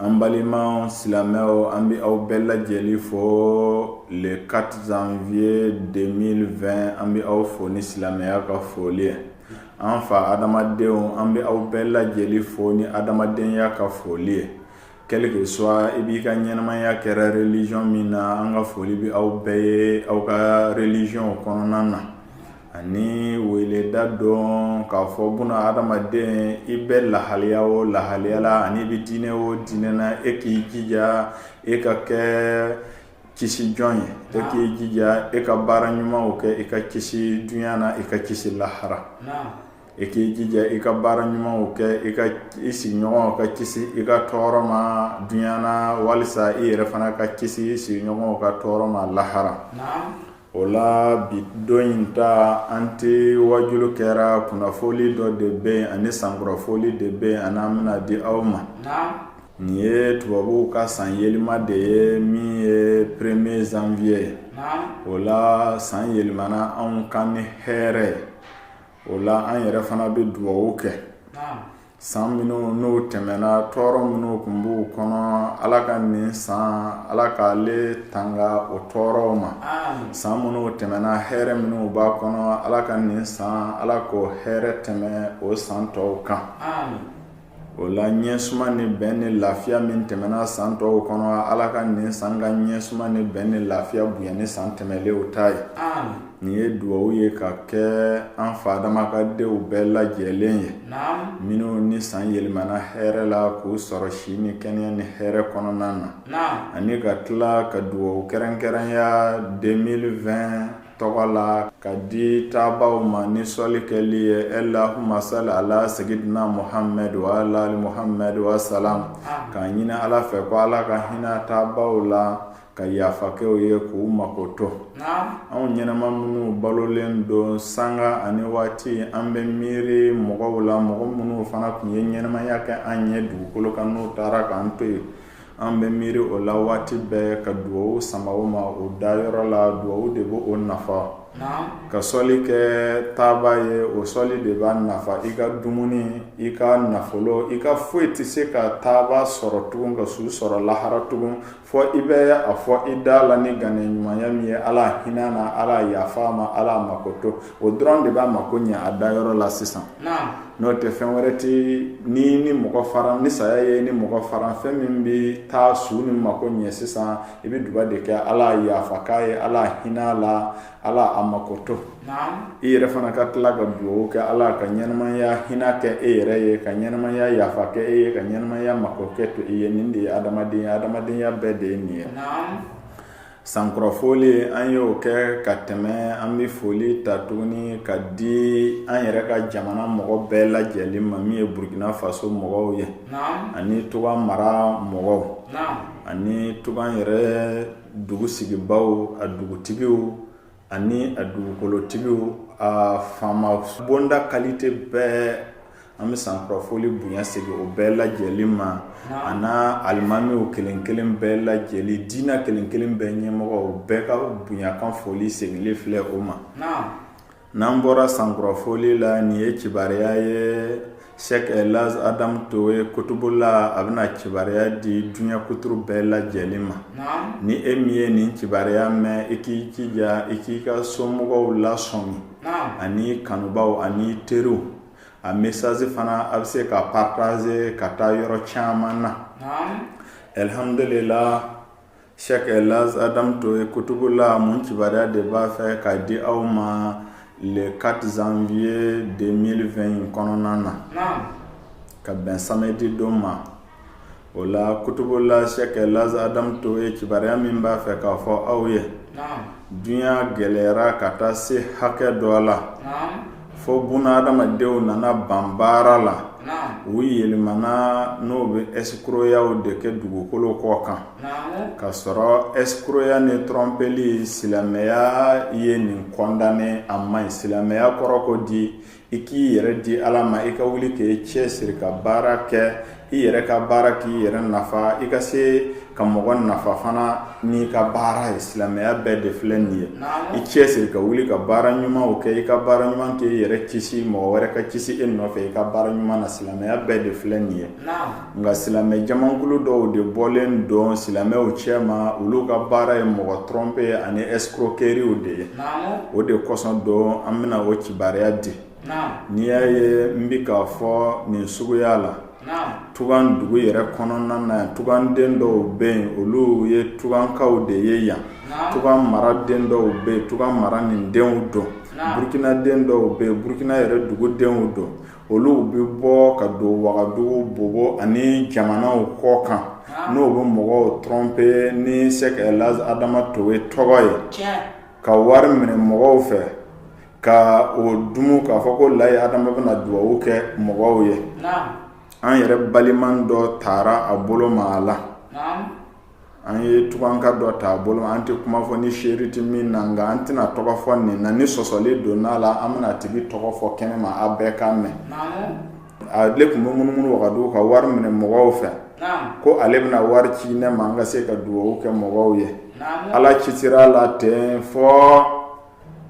an balima silamɛw an bɛ aw bɛɛ lajɛlen fo le 4 janvier 2020 an bɛ aw fo ni silamɛya ka foli ye an fa adamadenw an bɛ aw bɛɛ lajɛlen fo ni adamadenya ka foli ye quel que soit i b'i ka ɲɛnamaya kɛra religion min na an ka foli bɛ aw bɛɛ ye aw ka religion kɔnɔna na ani weleda don k'a fɔ buna adamaden i bɛ lahaliya o lahaliya la ani i bɛ diinɛ o diinɛ na e k'i jija e ka kɛ kisi jɔn ye e k'i jija e ka baara ɲumanw kɛ i ka kisi dunya na i ka kisi lahara e k'i jija i ka baara ɲumanw kɛ i ka i sigiɲɔgɔnw ka kisi i ka tɔɔrɔ ma dunya na walisa i yɛrɛ fana ka kisi i sigiɲɔgɔnw ka tɔɔrɔ ma lahara o la bi don in ta an tɛ waajuli kɛra kunnafoli dɔ de bɛ yen ani sankurafoli de bɛ yen ani an bɛna di aw ma nin ye tubabuw ka san yɛlɛma de ye min ye premier janvier o la san yɛlɛmana anw kan ni hɛrɛ ye o la an yɛrɛ fana bɛ dugaw kɛ san minnu n'o tɛmɛna tɔɔrɔ minnu tun b'u kɔnɔ ala ka nin san ala k'ale tanga o tɔɔrɔw ma san minnu tɛmɛna hɛrɛ minnu b'a kɔnɔ ala ka nin san ala k'o hɛrɛ tɛmɛ o san tɔw kan o la ɲɛsuma ni bɛn ni lafiya min tɛmɛna san tɔw kɔnɔ ala ka nin san ka ɲɛsuma ni bɛn ni lafiya bonya ni san tɛmɛlenw ta ye nin ye dugaw ye ka kɛ an fa adama ka denw bɛɛ lajɛlen ye minnu ni san yɛlɛmana hɛrɛ la k'u sɔrɔ si ni kɛnɛya ni hɛrɛ kɔnɔna na ani ka tila ka dugaw kɛrɛnkɛrɛnya 2020 tɔgɔ la ka di taabaaw ma ni sɔli kɛli ye allahumma salli ala sayyidina muhammad wa ala ali muhammad wasalam k'a ɲini ala fɛ ko ala ka hinɛ taabaaw la ka yafa kɛ u ye k'u makoto anw ɲɛnama minnu balolen don sanga ani waati an bɛ miiri mɔgɔw la mɔgɔ minnu fana tun ye ɲɛnamaya kɛ an ɲɛ dugukolo kan n'o taara k'an to yen an bɛ miiri o la waati bɛɛ ka dugaw sama o ma o dayɔrɔ la dugaw de b'o nafa ka sɔli kɛ taaba ye o sɔli de b'a nafa i ka dumuni i ka nafolo i ka foyi tɛ se ka taaba sɔrɔ tugun ka su sɔrɔ lahara tugun fo i bɛ a fɔ i da la ni ŋaniya ɲumanya min ye ala hinɛ na ala yafa ma ala makoto o dɔrɔn de b'a mako ɲɛ a dayɔrɔ la sisan n'o tɛ fɛn wɛrɛ tɛ ni ni mɔgɔ fara ni saya ye ni mɔgɔ fara fɛn min bɛ taa su nin mako ɲɛ sisan i bɛ duba de kɛ ala yafa k'a ye ala hinɛ la Ala a makoto i yɛrɛ fana ka tila ka dugawu kɛ ala ka ɲɛnɛmaya hinɛ kɛ e yɛrɛ ye ka ɲɛnɛmaya yafa kɛ e ye ka ɲɛnɛmaya mako kɛ to i ye nin de ye adamadenya ye adamadenya bɛɛ de ye nin ye sankurafoli an y'o kɛ ka tɛmɛ an bɛ foli ta tuguni ka di an yɛrɛ ka jamana mɔgɔ bɛɛ lajɛlen ma min ye burukina faso mɔgɔw ye ani tugan mara mɔgɔw ani tugan yɛrɛ dugu sigibaaw a dugutigiw ani a dugukolotigiw a faama bonda qualité bɛɛ an bɛ sankurafoli bonya segin o bɛɛ lajɛlen ma a n'a alimamiw kelen kelen bɛɛ lajɛlen diinɛ kelen kelen bɛɛ ɲɛmɔgɔ bɛɛ ka bonyakan foli seginlen filɛ o ma n'an bɔra sankurafoli la nin ye kibaruya ye sheikh elhaj adamu towe kutubula a bɛna kibaruya di duɲa kuturu bɛɛ lajɛlen ma ni e min ye nin kibaruya mɛn i k'i jija i k'i ka somɔgɔw lasɔmi ani kanubaw ani teriw a message fana a bɛ se ka partager ka taa yɔrɔ caman na alihamdulila Sheikh elhaj adamu towe kutubula mun kibaruya de b'a fɛ k'a di aw ma le quatre janvier deux mille vingt kɔnɔna na ka bɛn samedi don ma o la kutubula sheikh elhaj adamu towe kibaruya min b'a fɛ k'a fɔ aw ye dunya gɛlɛyara ka taa se hakɛ dɔ la fo buna adamadenw nana ban baara la u yɛlɛmana n'o bɛ ɛsikroyaw de kɛ dugukolo kɔ kan ka sɔrɔ ɛsikroya ni trompeli silamɛya ye nin condamné a man ɲi silamɛya kɔrɔ ko di i k'i yɛrɛ di ala ma i ka wuli k'i cɛ siri ka baara kɛ i yɛrɛ ka baara k'i yɛrɛ nafa i ka se ka mɔgɔ nafa fana n'i ka baara ye silamɛya bɛɛ de filɛ nin ye i cɛ siri ka wuli ka baara ɲumanw kɛ i ka baara ɲuman kɛ i yɛrɛ kisi mɔgɔ wɛrɛ ka kisi e nɔfɛ i ka baara ɲuman na silamɛya bɛɛ de filɛ nin ye nka silamɛ jamakulu dɔw de bɔlen don silamɛw cɛ ma olu ka baara ye mɔgɔ tromper ani escroqueriew de ye o de kosɔn don an bɛna o kibariya di n'i y'a ye n bɛ k'a fɔ nin suguya la tugan dugu yɛrɛ kɔnɔna na yan tuganden dɔw bɛ yen olu ye tugankaw de ye yan tugan maraden dɔw bɛ yen tugan mara nin denw don burukinaden dɔw bɛ yen burukina yɛrɛ dugudenw don olu bɛ bɔ ka don wagadugu bobo ani jamanaw kɔ kan n'o bɛ mɔgɔw tromper ni sheikh elhaj adama towe tɔgɔ ye ka wari minɛ mɔgɔw fɛ ka o dumu k'a fɔ ko layi adama bɛna na dugawu kɛ mɔgɔw ye an yɛrɛ balima dɔ taara a bolo ma a la an ye tuganka dɔ ta a bolo ma an tɛ kuma fɔ ni seere tɛ min na nka an tɛna tɔgɔ fɔ nin na ni sɔsɔli donna a la an bɛna tigi tɔgɔ fɔ kɛnɛ ma a bɛɛ ka mɛn ale tun bɛ munumunu wagadugu ka wari minɛ mɔgɔw fɛ ko ale bɛna wari ci ne ma an ka se ka dugawu kɛ mɔgɔw ye ala ci sera a la ten fɔ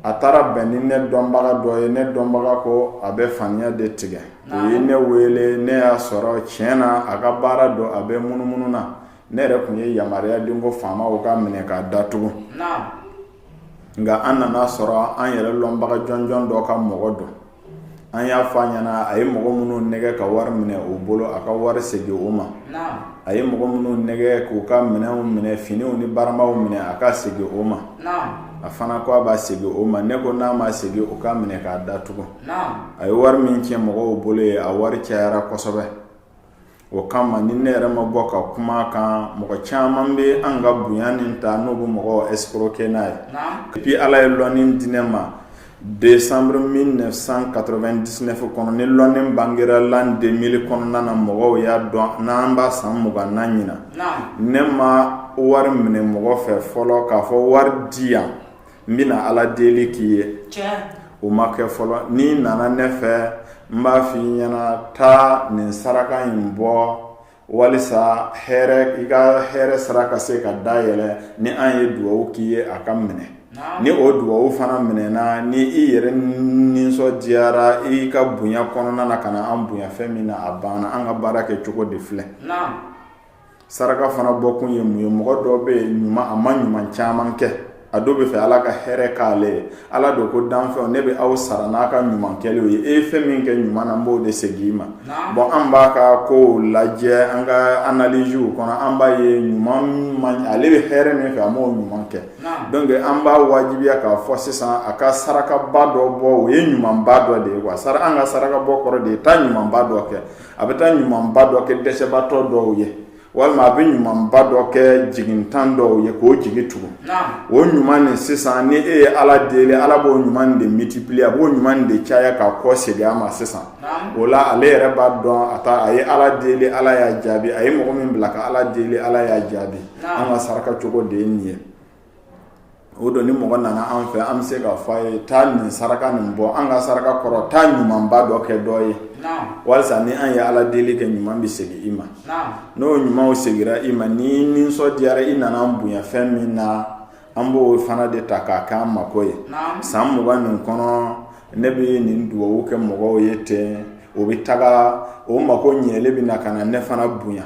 a taara bɛn ni ne dɔnbaga dɔ ye ne dɔnbaga ko a bɛ faniya de tigɛ o ye ne wele ne y'a sɔrɔ tiɲɛ na a ka baara don a bɛ munumunu na ne yɛrɛ tun ye yamaruya di ko faamaw k'a minɛ k'a datugu nka an nan'a sɔrɔ an yɛrɛ lɔnbaga jɔnjɔn dɔ ka mɔgɔ don an y'a fɔ a ɲɛna a ye mɔgɔ minnu nɛgɛ ka wari minɛ u bolo a ka wari segin o ma a ye mɔgɔ minnu nɛgɛ k'u ka minɛnw minɛ finiw ni baramaw minɛ a k'a segin o ma a fana ko a b'a segin o ma ne ko n'a ma segin o k'a minɛ k'a datugu a ye wari min cɛ mɔgɔw bolo ye a wari cayara kosɛbɛ o kama ni ne yɛrɛ ma bɔ ka kuma kan mɔgɔ caman bɛ an ka bonya nin ta n'o bɛ mɔgɔw escroquer n'a ye depuis ala ye lɔnni di ne ma décembre mille neuf cent quatre-vingt-dix-neuf kɔnɔ ni lɔnni bangera l'an deux mille kɔnɔna na mɔgɔw y'a dɔn n'an b'a san mugan na ɲinan ne ma wari minɛ mɔgɔ fɛ fɔlɔ k'a fɔ wari di yan n bɛna ala deli k'i ye o ma kɛ fɔlɔ n'i nana ne fɛ n b'a fɔ i ɲɛna taa nin saraka in bɔ walisa hɛrɛ i ka hɛrɛ sira ka se ka dayɛlɛ ni an ye dugawu k'i ye a ka minɛ ni o dugawu fana minɛna ni i yɛrɛ nisɔndiyara i ka bonya kɔnɔna na ka na an bonya fɛn min na a banna an ka baara kɛ cogo de filɛ saraka fana bɔkun ye mun ye mɔgɔ dɔ bɛ yen ɲuman a ma ɲuman caman kɛ a dun b'a fɛ ala ka hɛrɛ k'ale ye ala dun ko danfɛnw ne bɛ aw sara n'a ka ɲuman kɛlenw ye e ye fɛn min kɛ ɲuman na n b'o de segin i ma bon an b'a ka kow lajɛ an ka analysew kɔnɔ an b'a ye ɲuman ale bɛ hɛrɛ min fɛ a m'o ɲuman kɛ donc an b'a wajibiya k'a fɔ sisan a ka sarakaba dɔ bɔ o ye ɲumanba dɔ de ye quoi an ka sarakabɔ kɔrɔ de ye taa ɲumanba dɔ kɛ a bɛ taa ɲumanba dɔ kɛ dɛsɛbaatɔ dɔw ye walima a bɛ ɲumanba dɔ kɛ jigitan dɔw ye k'o jigi tugu o ɲuman nin sisan ni e ye ala deli ala b'o ɲuman de multiplier a b'o ɲuman de caya k'a kɔsegin a ma sisan o la ale yɛrɛ b'a dɔn a taa a ye ala deli ala y'a jaabi a ye mɔgɔ min bila ka ala deli ala y'a jaabi an ka saraka cogo de ye nin ye o don ni mɔgɔ nana an fɛ an bɛ se k'a fɔ a ye taa nin saraka nin bɔ an ka saraka kɔrɔ taa ɲumanba dɔ kɛ dɔ ye walasa ni an ye ala deli kɛ ɲuman bɛ segin i ma n'o ɲumanw segira i ma n'i nisɔndiyara i nana an bonya fɛn min na an b'o fana de ta k'a kɛ an mako ye san mugan nin kɔnɔ ne bɛ nin dugawu kɛ mɔgɔw ye ten o bɛ taga o mako ɲɛlen bɛ na ka na ne fana bonya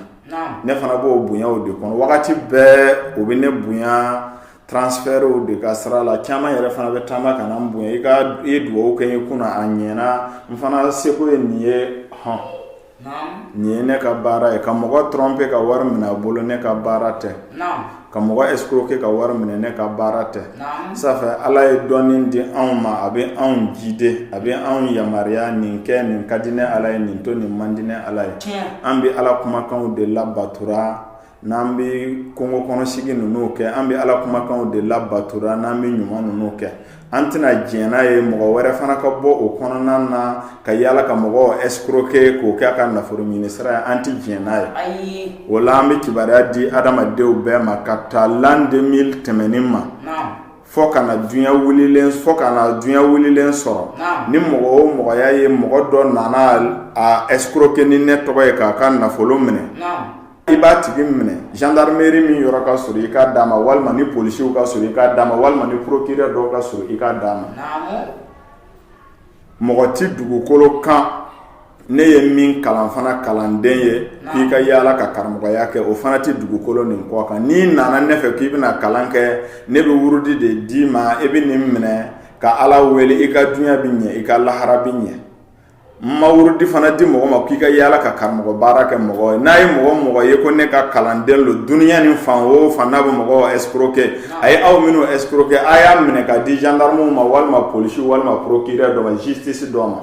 ne fana b'o bonya o de kɔnɔ wagati bɛɛ o bɛ ne bonya transfertw de ka sira la caman yɛrɛ fana bɛ taama ka na n bonya i ka ye dugawu kɛ n ye kunna a ɲɛna n fana seko ye nin ye hɔn nin ye ne ka baara ye ka mɔgɔ tromper ka wari minɛ a bolo ne ka baara tɛ ka mɔgɔ escroquer ka wari minɛ ne ka baara tɛ ça fait ala ye dɔnni di anw ma a bɛ anw guider a bɛ anw yamaruya nin kɛ nin ka di ne ala ye nin to nin man di ne ala ye an bɛ ala kumakanw de labatura n'an bɛ kungo kɔnɔsigi ninnu kɛ an bɛ ala kumakanw de labatura n'an bɛ ɲuman ninnu kɛ an tɛna diɲɛ n'a ye mɔgɔ wɛrɛ fana ka bɔ o kɔnɔna na ka yaala ka mɔgɔw escroquer k'o kɛ a ka nafolo ɲini sira ye an tɛ diɲɛ n'a ye o la an bɛ kibaruya di adamadenw bɛɛ ma ka ta l'an deux mille tɛmɛnen ma fɔ ka na dunya wililen sɔrɔ ni mɔgɔ o mɔgɔ y'a ye mɔgɔ dɔ nana a escroquer ni ne tɔgɔ ye k'a ka nafolo minɛ i b'a tigi minɛ gendarmerie min yɔrɔ ka surun i k'a d'a ma walima ni polisiw ka surun i k'a d'a ma walima ni procureur dɔ ka surun i k'a d'a ma mɔgɔ tɛ dugukolo kan ne ye min kalan fana kalanden ye k'i ka yaala ka karamɔgɔya kɛ o fana tɛ dugukolo nin kɔ kan n'i nana ne fɛ k'i bɛna kalan kɛ ne bɛ wurudi de d'i ma e bɛ nin minɛ ka ala wele i ka dunya bɛ ɲɛ i ka lahara bɛ ɲɛ ma wurudi fana di mɔgɔ ma k'i ka yaala ka karamɔgɔ baara kɛ mɔgɔ ye n'a ye mɔgɔ mɔgɔ ye ko ne ka kalanden lo dunya nin fan o fan n'a bɛ mɔgɔ escroquer a ye aw minnu escroquer a y'a minɛ k'a di gendarmew ma walima polisi walima procureur dɔ ma justice dɔ ma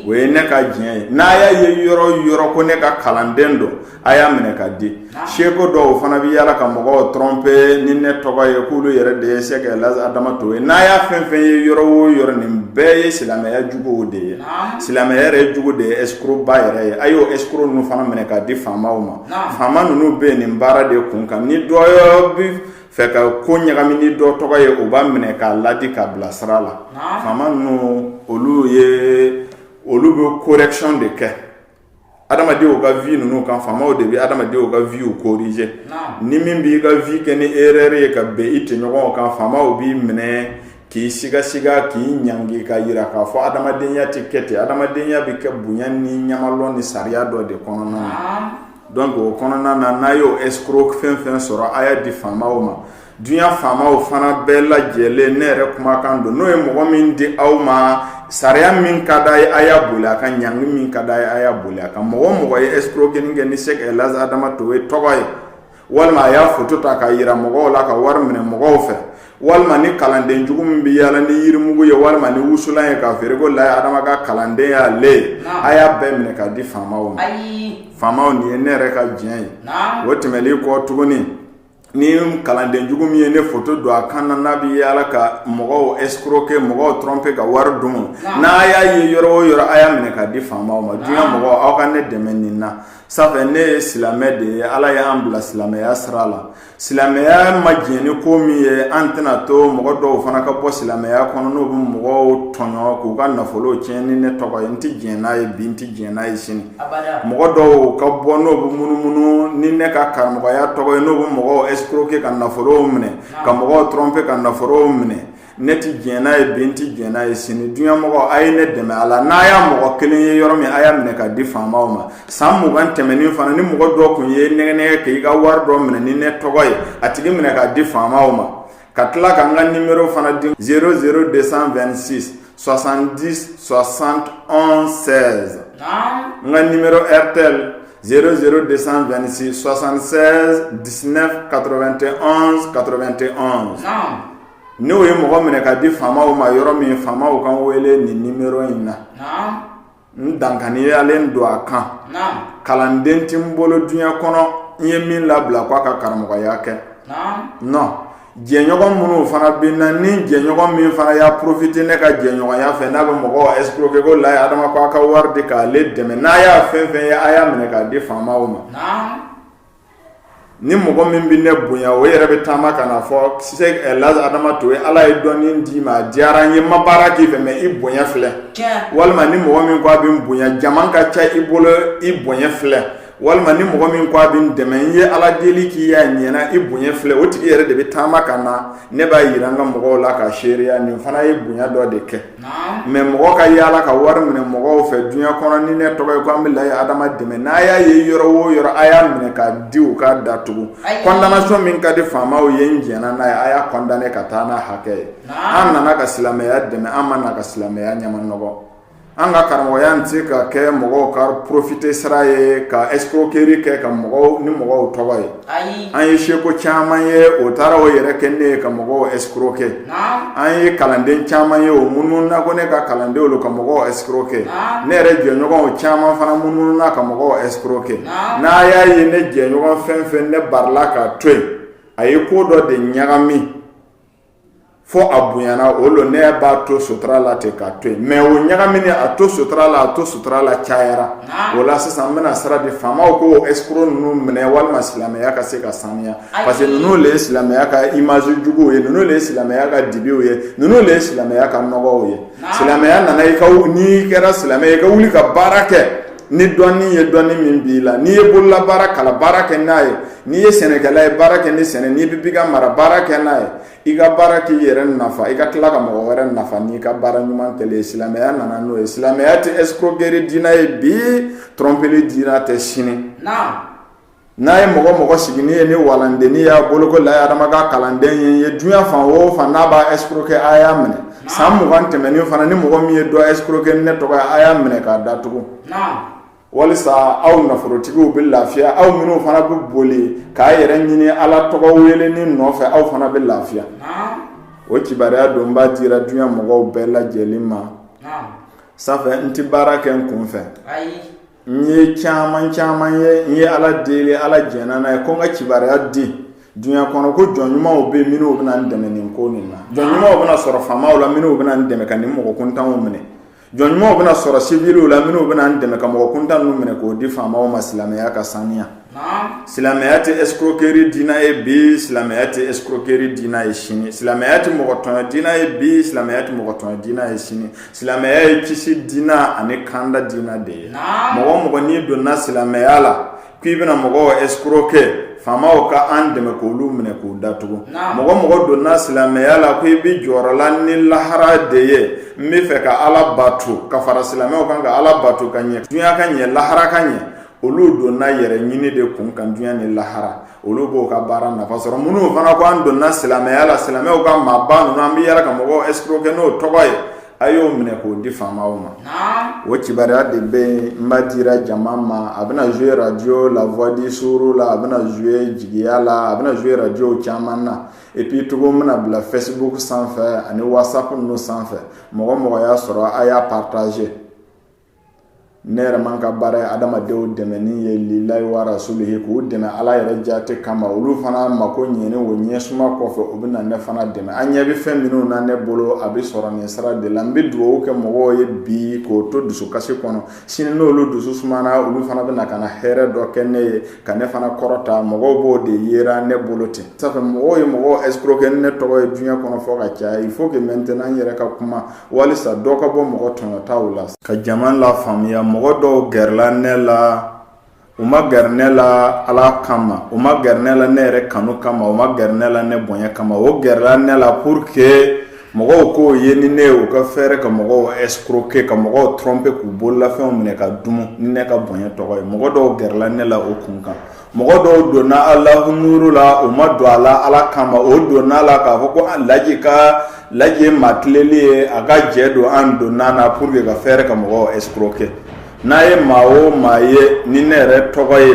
o ye ne ka diɲɛ ye n'a y'a ye yɔrɔ yɔrɔ ko ne ka kalanden don a y'a minɛ ka di escroc dɔw fana bɛ yala ka mɔgɔw tromper ni ne tɔgɔ ye k'olu yɛrɛ de ye sɛki elhaji adama traoré ye n'a y'a fɛn fɛn ye yɔrɔ o yɔrɔ nin bɛɛ ye silamɛya juguw de ye silamɛya yɛrɛ jugu de ye escrocba yɛrɛ ye a y'o escroc ninnu fana minɛ k'a di faamaw ma faama ninnu bɛ nin baara de kun kan ni dɔ bi fɛ ka ko ɲagami ni dɔ tɔgɔ ye u b'a minɛ k'a laadi k'a bila sira la faama ninnu olu bɛ correction de kɛ adamadenw ka vie ninnu kan faamaw de bɛ adamadenw ka view corriger ni min b'i ka vie kɛ ni erreur ye ka bɛn i tɔɲɔgɔnw kan faamaw b'i minɛ k'i siga siga k'i ɲangi ka yira k'a fɔ adamadenya tɛ kɛ ten adamadenya bɛ kɛ bonya ni ɲamalɔn ni sariya dɔ de kɔnɔna na donc o kɔnɔna na n'a y'o escroc fɛn fɛn sɔrɔ a y'a di faamaw ma Dunya faamaw fana bɛɛ lajɛlen ne yɛrɛ kumakan don n'o ye mɔgɔ min di aw ma sariya min ka d'a ye a y'a boli a kan ɲangi min ka d'a ye a y'a boli a kan mɔgɔ o mɔgɔ ye escroquerie kɛ ni Sɛki Laji Adama Tarawele tɔgɔ ye walima a y'a photo ta ka yira mɔgɔw la ka wari minɛ mɔgɔw fɛ walima ni kalanden jugu min bɛ yaala ni yirimugu ye walima ni wusulan ye k'a feere ko Laye Adama ka kalanden y'ale ye a y'a bɛɛ minɛ k'a di faamaw ma faamaw nin ye ne yɛrɛ ka jɛn ye o tɛmɛnen kɔ tuguni ni kalanden jugu min ye ne foto don a kan na n'a bɛ yaala ka mɔgɔw escroquer mɔgɔw tromper ka wari domu n'a y'a ye yɔrɔ o yɔrɔ a y'a minɛ ka di faamaw ma dunya mɔgɔ aw ka ne dɛmɛ nin na safɛ ne ye silamɛ de ye ala y'an bila silamɛya sira la silamɛya ma diɲɛ ni ko min ye an tɛna to mɔgɔ dɔw fana ka bɔ silamɛya kɔnɔ n'u bɛ mɔgɔw tɔɲɔ k'u ka nafolo tiɲɛ ni ne tɔgɔ ye n tɛ diɲɛ n'a ye bi n tɛ diɲɛ n'a ye sini Mɔgɔ dɔw ka bɔ n'u bɛ munumunu ni ne ka karamɔgɔya tɔgɔ ye n'u bɛ mɔgɔw escroquer ka nafolo minɛ ka mɔgɔw tromper ka nafolo minɛ ne tɛ diɲɛ n'a ye bi n tɛ diɲɛ n'a ye sini dunya mɔgɔ a ye ne dɛmɛ a la n'a y'a mɔgɔ kelen ye yɔrɔ min a y'a minɛ ka di faamaw ma san mugan tɛmɛnen fana ni mɔgɔ dɔ kun y'i nɛgɛnɛgɛ k'i ka wari dɔ minɛ ni ne tɔgɔ ye a tigi minɛ k'a di faamaw ma ka tila ka ka ni yɔrɔ fana di s de san2si sɔsandi sɔsan anw sɛ n ka ni tɛ s de san2si sɔsan sɛ diinɛ kato2te kato2te n'o ye mɔgɔ minɛ ka di faama ma yɔrɔ min faama ka wele nin ni in na n dankaniyalen don a kan kalanden tɛ n bolo dunya kɔnɔ n ye min labila k'a ka karamɔgɔya kɛ non jɛɲɔgɔn minnu fana bɛ n na ni jɛɲɔgɔn min fana y'a profiter ne ka jɛɲɔgɔnya fɛ n'a bɛ mɔgɔw escroquer ko Laye Adama ko a ka wari di k'ale dɛmɛ n'a y'a fɛn fɛn ye a y'a minɛ k'a di faamaw ma ni mɔgɔ min bɛ ne bonya o yɛrɛ bɛ taama ka na fɔ Sɛki Laji Adama Tarawele ala ye dɔɔnin d'i ma diyara n ye ma baara k'i fɛ mais i bonya filɛ walima ni mɔgɔ min ko a bɛ n bonya jama ka ca i bolo i bonya filɛ walima ni mɔgɔ min ko a bɛ n dɛmɛ n ye ala deli k'i y'a ɲɛna i bonya filɛ o tigi yɛrɛ de bɛ taama ka na ne b'a yira n ka mɔgɔw la ka seereya nin fana ye bonya dɔ de kɛ mais mɔgɔ ka yaala ka wari minɛ mɔgɔw fɛ dunya kɔnɔ ni ne tɔgɔ ye ko an bɛ Laye Adama dɛmɛ n'a y'a ye yɔrɔ o yɔrɔ a y'a minɛ ka di u ka datugu condamnation min ka di faamaw ye n diɲɛna n'a ye a y'a condamner ka taa n'a hakɛ ye an nana ka silamɛya dɛmɛ an ma na ka silamɛya ɲama nɔgɔ an ka karamɔgɔya tɛ se ka kɛ mɔgɔw ka profiter sira ye ka escroquerie kɛ ka mɔgɔw ni mɔgɔw tɔgɔ ye ayi an ye seko caman ye o taara o yɛrɛ kɛ ne ye ka mɔgɔw escroquer naam an ye kalanden caman ye o munumununa ko ne ka kalandenw lo ka mɔgɔw escroquer Naam. ne yɛrɛ jɛɲɔgɔnw caman fana munumununa ka mɔgɔw escroquer Naam. n'a y'a ye ne jɛɲɔgɔn fɛn fɛn ne barila k'a to yen a ye ko dɔ de ɲagami fo a bonyana o lo ne b'a to sutura la ten k'a to yen mais o ɲagamini a to sutura la a to sutura la cayara o la sisan n bɛna sira di faamaw ko escroc ninnu minɛ walima silamɛya ka se ka saniya parce que ninnu de ye silamɛya ka image juguw ye ninnu de ye silamɛya ka dibiw ye ninnu de ye silamɛya ka nɔgɔw ye silamɛya nana ko n'i kɛra silamɛ ye i ka wuli ka baara kɛ ni dɔnni ye dɔnni min b'i la n'i ye bolola baarakɛla baara kɛ n'a ye n'i ye sɛnɛkɛla ye baara kɛ ni sɛnɛ n'i bɛ bagan mara baara kɛ n'a ye i ka baara k'i yɛrɛ nafa i ka tila ka mɔgɔ wɛrɛ nafa n'i ka baara ɲuman telen ye silamɛya nana n'o ye silamɛya tɛ escroquerie diina ye bi tromperie diina tɛ sini n'a ye mɔgɔ mɔgɔ siginin ye ni walandennin y'a bolo ko layi adama ka kalanden ye n ye dunya fan o fan n'a b'a escroquer a y'a minɛ san mugan tɛmɛnen fana ni mɔgɔ min ye dɔ escroquer ne tɔgɔ a y'a minɛ k'a datugu walisa aw nafolotigiw bɛ lafiya aw minnu fana bɛ boli k'a yɛrɛ ɲini ala tɔgɔ weleni nɔfɛ aw fana bɛ lafiya o kibaruya don n b'a dira dunya mɔgɔw bɛɛ lajɛlen ma ça fait n tɛ baara kɛ n kun fɛ n ye caman caman ye n ye ala deli ala jɛnna n'a ye ko n ka kibaruya di dunya kɔnɔ ko jɔn ɲumanw bɛ minnu bɛna n dɛmɛ nin ko nin na jɔn ɲumanw bɛna sɔrɔ faamaw la minnu bɛna n dɛmɛ ka nin mɔgɔ kuntanw minɛ jɔn ɲumanw bɛna sɔrɔ siwiliw la minnu bɛna n dɛmɛ ka mɔgɔ kuntan ninnu minɛ k'o di faamaw ma silamɛya ka saniya silamɛya tɛ escroquerie diina ye bi silamɛya tɛ escroquerie diina ye sini silamɛya tɛ mɔgɔ tɔɲɔ diina ye bi silamɛya tɛ mɔgɔ tɔɲɔ diina ye sini silamɛya ye kisi diina ani kanda diina de ye mɔgɔ mɔgɔ n'i donna silamɛya la k'i bɛna mɔgɔw escroquer faamaw ka an dɛmɛ k'olu minɛ k'u datugu mɔgɔ mɔgɔ donna silamɛya la ko i bɛ jɔrɔ la ni lahara de ye n bɛ fɛ ka ala bato ka fara silamɛw kan ka ala bato ka ɲɛ dunya ka ɲɛ lahara ka ɲɛ olu donna yɛrɛ ɲini de kunkan dunya ni lahara olu b'o ka baara nafa sɔrɔ minnu fana ko an donna silamɛya la silamɛw ka maaba ninnu an bɛ yala ka mɔgɔw escroquer n'o tɔgɔ ye a y'o minɛ k'o di faamaw ma o kibaruya de bɛ yen n b'a dira jama ma a bɛna jouer radio la voix du Sourou la a bɛna jouer jigiya la a bɛna jouer radio caman na et puis tugun n bɛna bila Facebook sanfɛ ani WhatsApp ninnu sanfɛ mɔgɔ mɔgɔ y'a sɔrɔ a y'a partager ne yɛrɛ man ka baara ye adamadenw dɛmɛni ye lilahi wa rasulihi k'o dɛmɛ ala yɛrɛ jate kama olu fana mako ɲɛni o ɲɛsuma kɔfɛ o bɛ na ne fana dɛmɛ an ɲɛ bɛ fɛn minnu na ne bolo a bɛ sɔrɔ nin sira de la n bɛ dugawu kɛ mɔgɔw ye bi k'o to dusukasi kɔnɔ sini n'olu dusu sumana olu fana bɛ na ka na hɛrɛ dɔ kɛ ne ye ka ne fana kɔrɔta mɔgɔw b'o de yera ne bolo ten sanfɛ mɔgɔw ye mɔgɔ escroquer ni ne tɔgɔ ye diɲɛ kɔnɔ fɔ ka caya il faut maintenant n' yɛrɛ ka kuma walisa dɔ ka bɔ mɔgɔ tɔɲɔtaw la ka jama lafaamuya mɔgɔ dɔw gɛrɛla ne la u ma gɛrɛ ne la ala kama u ma gɛrɛ ne la ne yɛrɛ kanu kama u ma gɛrɛ ne la ne bonya kama o gɛrɛla ne la pour que mɔgɔw k'o ye ni ne ye u ka fɛɛrɛ ka mɔgɔw escroquer ka mɔgɔw tromper k'u bololafɛnw minɛ ka dumu ni ne ka bonya tɔgɔ ye mɔgɔ dɔw gɛrɛla ne la o kun kan mɔgɔ dɔw donna alahu nuru la u ma don a la ala kama o donna la k'a fɔ ko laji ye maa tileli ye a ka jɛ don an donna na pour que ka fɛɛrɛ ka mɔgɔw escroquer n'a ye maa o maa ye ni ne yɛrɛ tɔgɔ ye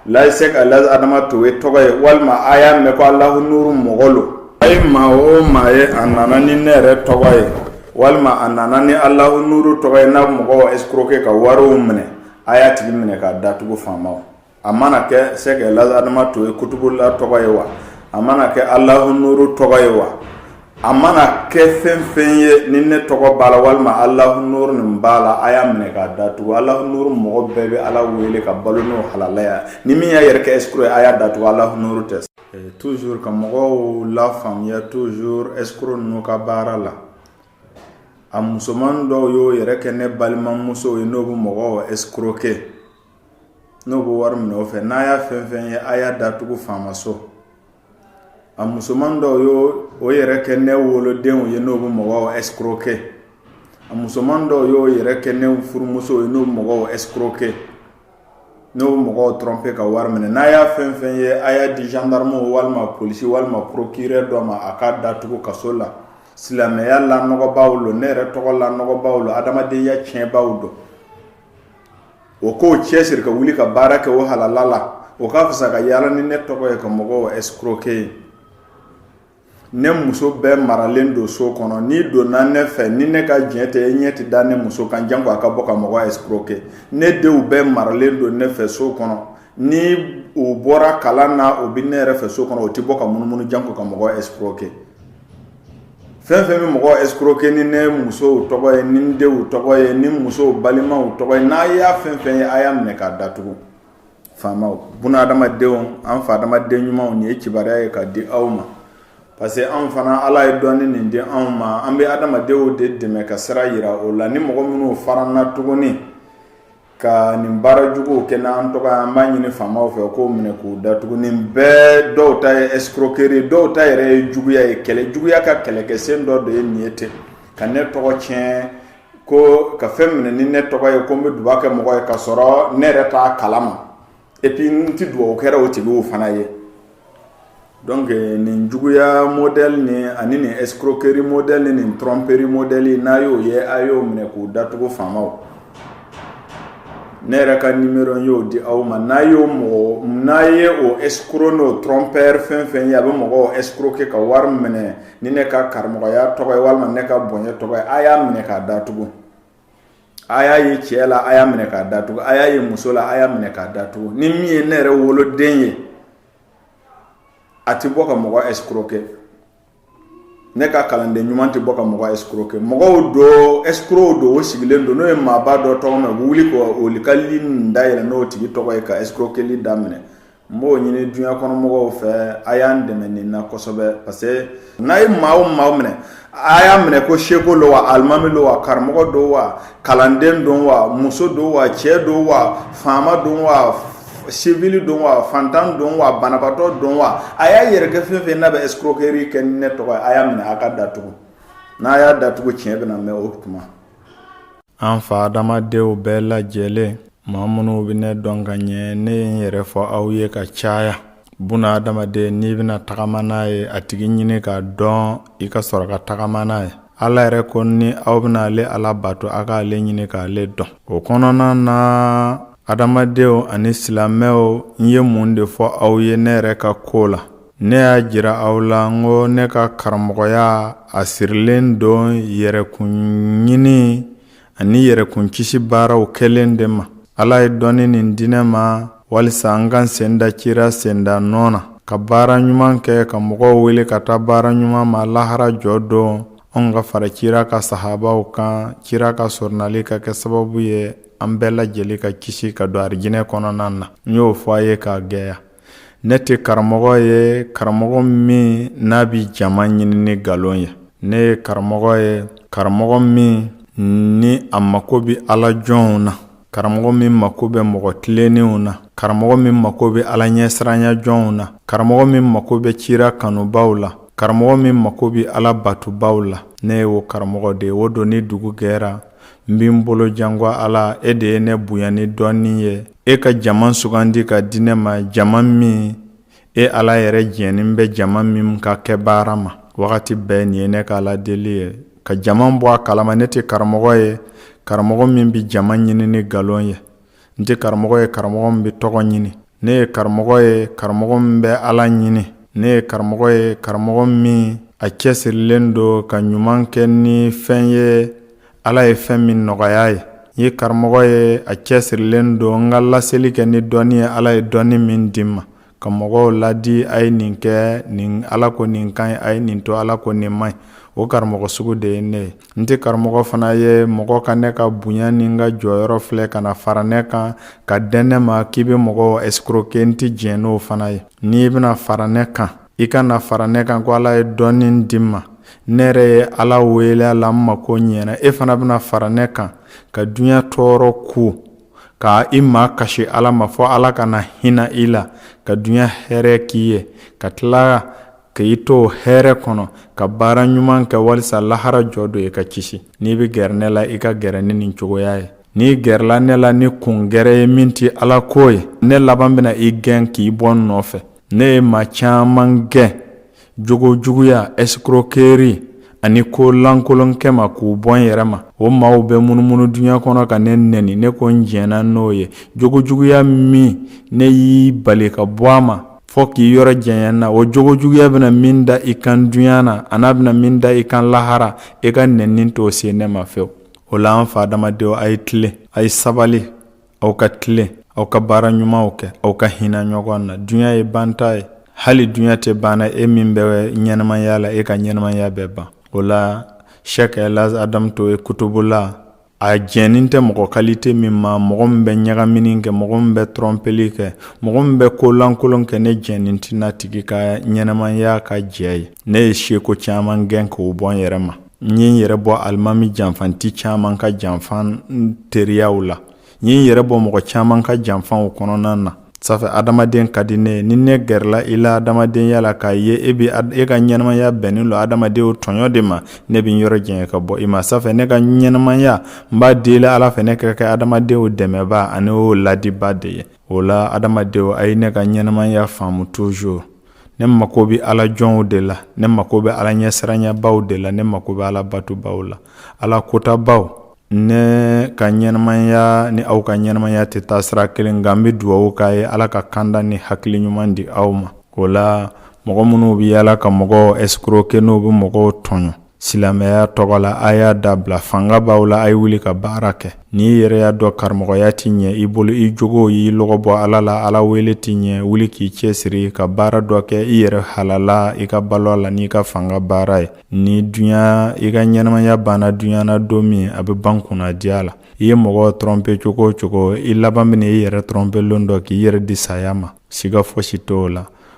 layise ka laji adama toye tɔgɔ ye walima a y'a mɛn ko alahu nuru mɔgɔ lo a ye maa o maa ye a nana ni ne yɛrɛ tɔgɔ ye walima a nana ni alahu nuru tɔgɔ ye n'a mɔgɔw escroquer ka wariw minɛ a y'a tigi minɛ k'a datugu faama a mana kɛ sɛki laji adama toye kutubula tɔgɔ ye wa a mana kɛ alahu nuru tɔgɔ ye wa a mana kɛ fɛn fɛn ye ni ne tɔgɔ b'a la walima alahu nuru nin b'a la a y'a minɛ k'a datugu alahu nuru mɔgɔ bɛɛ bɛ ala wele ka balo n'o halalaya ni min y'a yɛrɛ kɛ escroc ye a y'a datugu alahu nuru tɛ toujours ka mɔgɔw lafaamuya toujours escroc ninnu ka baara la a musoman dɔw y'o yɛrɛ kɛ ne balimamusow ye n'o bɛ mɔgɔw escroquer n'o bɛ wari minɛ o fɛ n'a y'a fɛn fɛn ye a y'a datugu faamaso a musoman dɔw y'o yɛrɛ kɛ ne wolodenw ye n'o bɛ mɔgɔw escroquer a musoman dɔw y'o yɛrɛ kɛ ne furumusow ye n'o bɛ mɔgɔw escroquer n'o mɔgɔw tromper ka wari minɛ n'a y'a fɛn fɛn ye a y'a di gendarme walima polisi walima procureur dɔ ma a k'a datugu kaso la silamɛya lanɔgɔbaw lo ne yɛrɛ tɔgɔ lanɔgɔbaw lo adamadenya tiɲɛbaw don o k'o cɛsiri ka wuli ka baara kɛ o halala la o ka fisa ka yaala ni ne tɔgɔ ye ka mɔgɔw escroquer ye ne muso bɛɛ maralen don so kɔnɔ n'i donna ne fɛ ni ne ka diɲɛ tɛ e ɲɛ tɛ da ne muso kan janko a ka bɔ ka mɔgɔ escroquer ne denw bɛɛ maralen don ne fɛ so kɔnɔ ni u bɔra kalan na u bɛ ne yɛrɛ fɛ so kɔnɔ o tɛ bɔ ka munumunu janko ka mɔgɔ escroquer fɛn fɛn bɛ mɔgɔ escroquer ni ne musow tɔgɔ ye ni denw tɔgɔ ye ni musow balimaw tɔgɔ ye n'a y'a fɛn fɛn ye a y'a minɛ k'a datugu faamaw buna adamadenw an fa adamaden ɲumanw nin ye kibaruya ye ka di aw ma parce que anw fana ala ye dɔnni nin di anw ma an bɛ adamadenw de dɛmɛ ka sira yira o la ni mɔgɔ minnu faranna tuguni ka nin baara juguw kɛ n'an tɔgɔ ye an b'a ɲini faamaw fɛ k'o minɛ k'u datugu nin bɛɛ dɔw ta ye escroquerie dɔw ta yɛrɛ ye juguya ye kɛlɛ juguya ka kɛlɛkɛsen dɔ de ye nin ye ten ka ne tɔgɔ tiɲɛ ko ka fɛn minɛ ni ne tɔgɔ ye ko n bɛ dugawu kɛ mɔgɔ ye ka sɔrɔ ne yɛrɛ t'a kala ma et puis n tɛ dugawu kɛra o tigiw fana ye donc nin juguya modèle ni ani nin escroquerie modèle ni nin tromperie modèle n'a y'o ye a y'o minɛ k'o datugu faamaw ne yɛrɛ ka numéro y'o di aw ma n'a y'o mɔgɔ n'a ye o escroc n'o trompeur fɛn fɛn ye a bɛ mɔgɔw escroquer ka wari minɛ ni ne ka karamɔgɔya tɔgɔ ye walima ne ka bonya tɔgɔ ye a y'a minɛ k'a datugu a y'a ye cɛ la a y'a minɛ k'a datugu a y'a ye muso la a y'a minɛ k'a datugu ni min ye ne yɛrɛ woloden ye a tɛ bɔ ka mɔgɔ escroquer ne ka kalanden ɲuman tɛ bɔ ka mɔgɔ escroquer mɔgɔw do escrocw do o sigilen do n'o ye maaba dɔ tɔgɔ mɛn u bɛ wuli ka vocal nin dayɛlɛ n'o tigi tɔgɔ ye ka escroquerli daminɛ n b'o ɲini duɲa kɔnɔmɔgɔw fɛ a y'an dɛmɛ nin na kosɛbɛ parce que n'a ye maa o maa minɛ a y'a minɛ ko seko don wa alimami don wa karamɔgɔ don wa kalanden don wa muso don wa cɛ don wa faama don wa sivili don wa fantan don wa banabaatɔ don wa a y'a yɛrɛ kɛ fɛn fɛn n'a bɛ escroquerie kɛ ni ne tɔgɔ ye a y'a minɛ a k'a datugu n'a y'a datugu tiɲɛ bɛna mɛn o tuma an fa adamadenw bɛɛ lajɛlen maa minnu bɛ ne dɔn ka ɲɛ ne ye n yɛrɛ fɔ aw ye ka caya buna adamaden n'i bɛna tagama n'a ye a tigi ɲini k'a dɔn i ka sɔrɔ ka tagama n'a ye ala yɛrɛ ko ni aw bɛna ale ala bato a k'ale ɲini k'ale dɔn o kɔnɔna na adamadenw ani silamɛw n ye mun de fɔ aw ye ne yɛrɛ ka ko la ne y'a jira aw la n ko ne ka karamɔgɔya a sirilen don yɛrɛkun ɲini ani yɛrɛkun kisi baaraw kɛlen de ma ala ye dɔnni nin di ne ma walisa an ka sen da cira senda nɔ na ka baara ɲuman kɛ ka mɔgɔw wele ka taa baara ɲuman ma lahara jɔ don an ka fara cira ka sahabaw kan cira ka soronali ka kɛ sababu ye an bɛɛ lajɛlen ka kisi ka don arijinɛ kɔnɔna na n y'o fɔ a ye k'a gɛya ne tɛ karamɔgɔ ye karamɔgɔ min n'a bɛ jama ɲini ni ngalon ye ne ye karamɔgɔ ye karamɔgɔ min ni a mako bɛ ala jɔnw na karamɔgɔ min mako bɛ mɔgɔ tilennenw na karamɔgɔ min mako bɛ ala ɲɛsiranya jɔnw na karamɔgɔ min mako bɛ cira kanubaw la karamɔgɔ min mako bɛ ala batubaw la ne ye o karamɔgɔ de ye o don ni dugu gɛra n bɛ n bolo jan ko ala e de ye ne bonya ni dɔnni ye e ka jama sugandi ka di ne ma jama min e ala yɛrɛ jɛnnin bɛ jama min ka kɛ baara ma wagati bɛɛ nin ye ne ka ala deli ye ka jama bɔ a kalama ne tɛ karamɔgɔ ye karamɔgɔ min bɛ jama ɲini ni nkalon ye n tɛ karamɔgɔ ye karamɔgɔ min bɛ tɔgɔ ɲini ne ye karamɔgɔ ye karamɔgɔ min bɛ ala ɲini ne ye karamɔgɔ ye karamɔgɔ min a cɛsirilen don ka ɲuman kɛ ni fɛn ye ala ye fɛn min nɔgɔya ye n ye karamɔgɔ ye a cɛsirilen don n ka laseli kɛ ni dɔnni ye ala ye dɔnni min di n ma ka mɔgɔw ladi a ye nin kɛ nin ala ko nin ka ɲi a ye nin to ala ko nin man ɲi o karamɔgɔ sugu de ye ne ye n tɛ karamɔgɔ fana ye mɔgɔ ka ne ka bonya ni n ka jɔyɔrɔ filɛ ka na fara ne kan ka dɛn ne ma k'i bɛ mɔgɔw escroquer n tɛ diɲɛ n'o fana ye n'i bɛna fara ne kan i ka na fara ne kan ko ala ye dɔnni di n ma ne yɛrɛ ye ala wele a la n mako ɲɛna e fana bɛna fara ne kan ka dunya tɔɔrɔ kun ka i makasi ala ma fɔ ala ka na hinɛ i la ka dunya hɛrɛ k'i ye ka tila ka i to hɛrɛ kɔnɔ ka baara ɲuman kɛ walisa lahara jɔ don i ka kisi n'i bɛ gɛrɛ ne la i ka gɛrɛ ni nin cogoya ye n'i gɛrɛla ne la ni kun gɛrɛ ye min tɛ ala ko ye ne laban bɛna i gɛn k'i bɔ n nɔfɛ Ne ye maa caman gɛn jogo juguya escroquerie ani kolankolonkɛ ma k'u bɔ n yɛrɛ ma o maaw bɛ munumunu dunya kɔnɔ ka ne nɛni ne ko n jɛnna n'o ye jogo juguya min ne y'i bali ka bɔ a ma fɔ k'i yɔrɔ janya n na o jogo juguya bɛna min da i kan dunya na an'a bɛna min da i kan lahara e ka nɛni t'o se ne ma fewu o la an fa adamadenw a ye tilen a ye sabali aw ka tilen aw ka baara ɲumanw kɛ aw ka hinɛ ɲɔgɔn na dunya ye banta ye hali dunya tɛ banna e min bɛ ɲɛnamaya la e ka ɲɛnamaya bɛ ban o la sɛki laji adamu toe kutubola a jɛnnen tɛ mɔgɔ kalite min ma mɔgɔ min bɛ ɲagamini kɛ mɔgɔ min bɛ tɔrɔnpeli kɛ mɔgɔ min bɛ kolankolon kɛ ne jɛnnen tɛ n'a tigi ka ɲɛnamaya ka jɛ ye ne ye seko caman gɛn k'o bɔ n yɛrɛ ma n ye n yɛrɛ bɔ alimami janfanti caman ka janfan teriyaw la n ye n yɛrɛ bɔ mɔgɔ caman ka janfanw kɔnɔna na ça fait adamaden ka di n ye ni ne gɛrɛla i la adamadenya la k'a ye e bɛ e ka ɲɛnamaya bɛnnen lo adamadenw tɔɲɔ de ma ne bɛ n yɔrɔ janya ka bɔ i ma ça fait ne ka ɲɛnamaya n b'a deli ala fɛ ne ka kɛ adamadenw dɛmɛba ani o ladiba de ye o la adamadenw a ye ne ka ɲɛnamaya faamu toujours ne mako bɛ ala jɔnw de la ne mako bɛ ala ɲɛsiranyabaaw de la ne mako bɛ ala batobaw la ala kotabaw ne ka ɲɛnamaya ni aw ka ɲɛnamaya tɛ taa sira kelen nka n bɛ dugawu k'a ye ala ka kanda ni hakili ɲuman di aw ma o la mɔgɔ minnu bɛ yaala ka mɔgɔw escroquer n'o bɛ mɔgɔw tɔɲɔ Silamɛya tɔgɔ la a y'a dabila fanga b'aw la a ye wuli ka baara kɛ n'i yɛrɛ y'a dɔn karamɔgɔya tɛ ɲɛ i bolo i jogo y'i lɔgɔ bɔ ala la ala wele tɛ ɲɛ wuli k'i cɛsiri ka baara dɔ kɛ i yɛrɛ halala i ka balo la n'i ka fanga baara ye ni dunya i ka ɲɛnamaya banna dunya na don min a bɛ ban kunnadiya la i ye mɔgɔ tɔrɔnpe cogo o cogo i laban bɛn'i yɛrɛ tɔrɔnpe lon dɔ k'i yɛrɛ di saya ma siga fosi t'o la